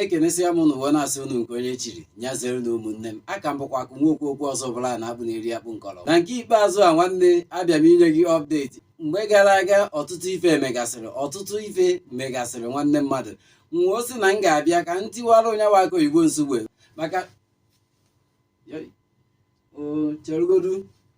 ekenesịa m unu wee na-asị unu nke onye chiri nya zere na ụmụnne m a ka m bụkwa akụ nwa okwu okwu ọzọ bụla na abụ na-eri akpụ nkọrọ na nke ikpeazụ a nwanne abịa m inye gị ọpdeti mgbe gara aga ọtụtụ ife megasịrị ọtụtụ ife megasịrị nwanne mmadụ wee sị na m ga-abịa ka m tiwara unu ya wụ akụ oyibo nsugbe maka cherugodu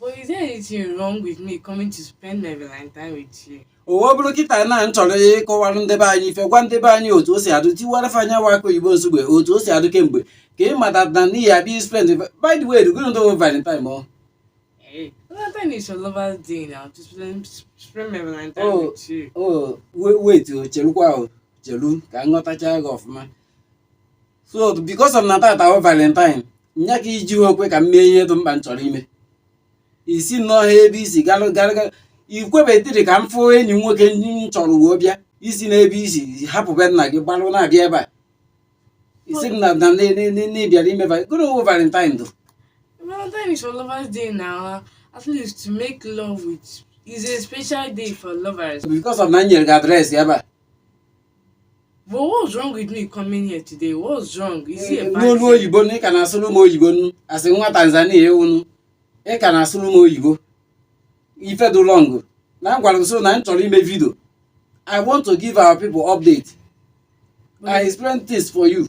But is there anything wrong with me coming to spend my Valentine with you? ọ wee bụrụ kịta na m chọrọ ịkọwara ndị be anyị ife gwa ndị be anyị otu o si adụ tiwara fa nya wụ akụ oyibo nsugbe otu o si adụ kemgbe ka ị mata na ị ya-abịa spend by the way rugoro ndị valentine ọ Hey, Valentine is your lover's day now. To spend, spend my Valentine Oh. with you. o wait o chelukwa o chelu ka m ghọtacha gị ọfụma so because of na tata wụ valentine nya ka i jiho kwe ka m mee ihe dị mkpa m chọrọ ime i si nnọọ ha ebe i si galụ galụ galụ ikwebetiri ka m fụ enyi m nwoke ndị m chọrọ wee bịa i si n'ebe i si hapụ be nna gị gbalụ na-abịa ebe a ị sị m na na na- na- na- na ị bịara ime va- gịnị wụ valentine dụ Valentine is for lovers day now. At least to make love with is a special day for lovers. because of na m nyere gị adreesị ebe a But what's wrong with me coming here today? What's wrong? Is it a bad thing? n'olu oyibo na ị ka na-asụrụ m oyibo nụ a sị nwa tanzania ewunu ị ka na-asụrụ m oyibo ife dị wrong na m gwara gị sị na m chọrọ ime vidio i want to give our people update i explain things for you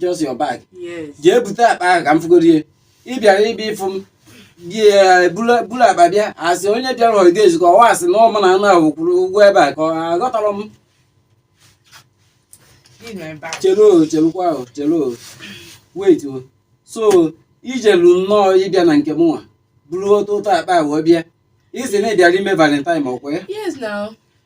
just your bag jee bute akpa ahụ ka m fụgorie ị bịara ịbịa ịfụ m bịa buru akpa bịa a sị onye bịara ọga ezukọ ọwa a sị na ọmụ na anụ ahụ kwuru ụgwọ ebe a ka ọ aghọtara m chelu chelukwa o chelu wait o so i jelu nnọọ ịbịa na nke mụnwa buru ototo akpa ahụ bịa ị sị na ị bịara ime valentine ọkwa ya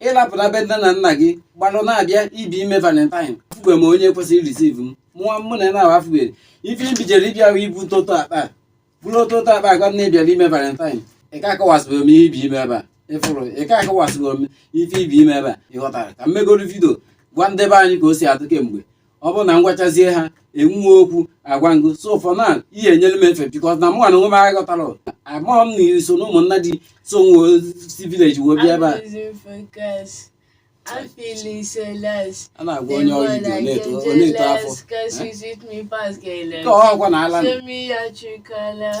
ị lapụ na be nne na nna gị gbalụ na-abịa ịbịa ime valentine afụgbe m onye kwesịrị receive m mụọ mụ na na afụgbere ife ibijere ịbịa ahụ ibu ototo akpa buru ototo akpa agwa m na ị bịara ime valentine ị ka akọwasịbụrụ m ị bịa ime ebe a ịfụrụ ị ka akọwasịbụrụ m ife ị bịa ime ebe a ị ghọtara ka m megoro vidio gwa ndị be anyị ka o si adụ kemgbe ọ bụrụ na m gwachazie ha e nwee okwu agwa ngụ so for now ị ya-enyere m efe because na mụnwa n'onwe m aghọtara amaghị m na iri so na ụmụnna dị so wee si village wee bịa ebe a I'm feeling so lost. A na-agwa onye ọrụ Igbo na-eto ọ na-eto afọ. Ka ọ ọkwa na ala. Show me your true color.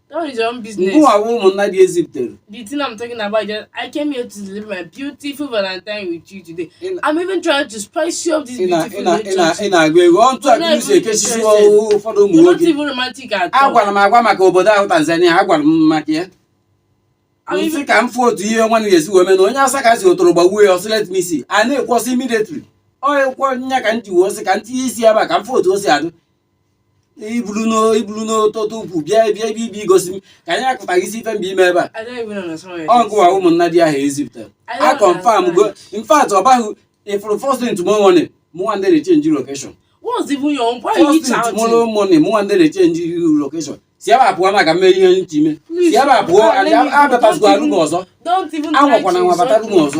That is your own business. Ngụwa wụ ụmụnna ndị e zipụtere. The thing I'm talking about is I came here to live my beautiful Valentine with you today. I'm even trying to spice you up this beautiful relationship. Ị na-agụ ego ọntụ a kiri si ekesisi ụfọdụ ụmụ nwoke. You're not even romantic at all. Agwara m agwa maka obodo ahụ Tanzania, agwara m maka ya. M sị ka m fụ otu ihe nwa ga-esi wee mee na onye asa ka si otoro gbagbuo ya ọ sị let me see. A na-ekwu ọ sị immediately. Ọ kwa nya ka m ji wee sị ka m tinye isi eba ka m fụ otu o si adụ. i bulu n'ototo ukwu bịa bịa ebe i bi igosi m ka anyị akụta gị isi ife mgbe ime ebe a ọ gụwa ụmụnna ndị ahụ e zipụtara a confirm go in fact ọ baghị ifụrụ first thing tomorrow morning mụnwa ndị na-echenji location first thing tomorrow morning mụnwa ndị na-echenji location si ebe a pụọ maka mme ihe nchime si ebe a pụọ abịatazikwa room ọzọ anwakwana anwa bata room ọzọ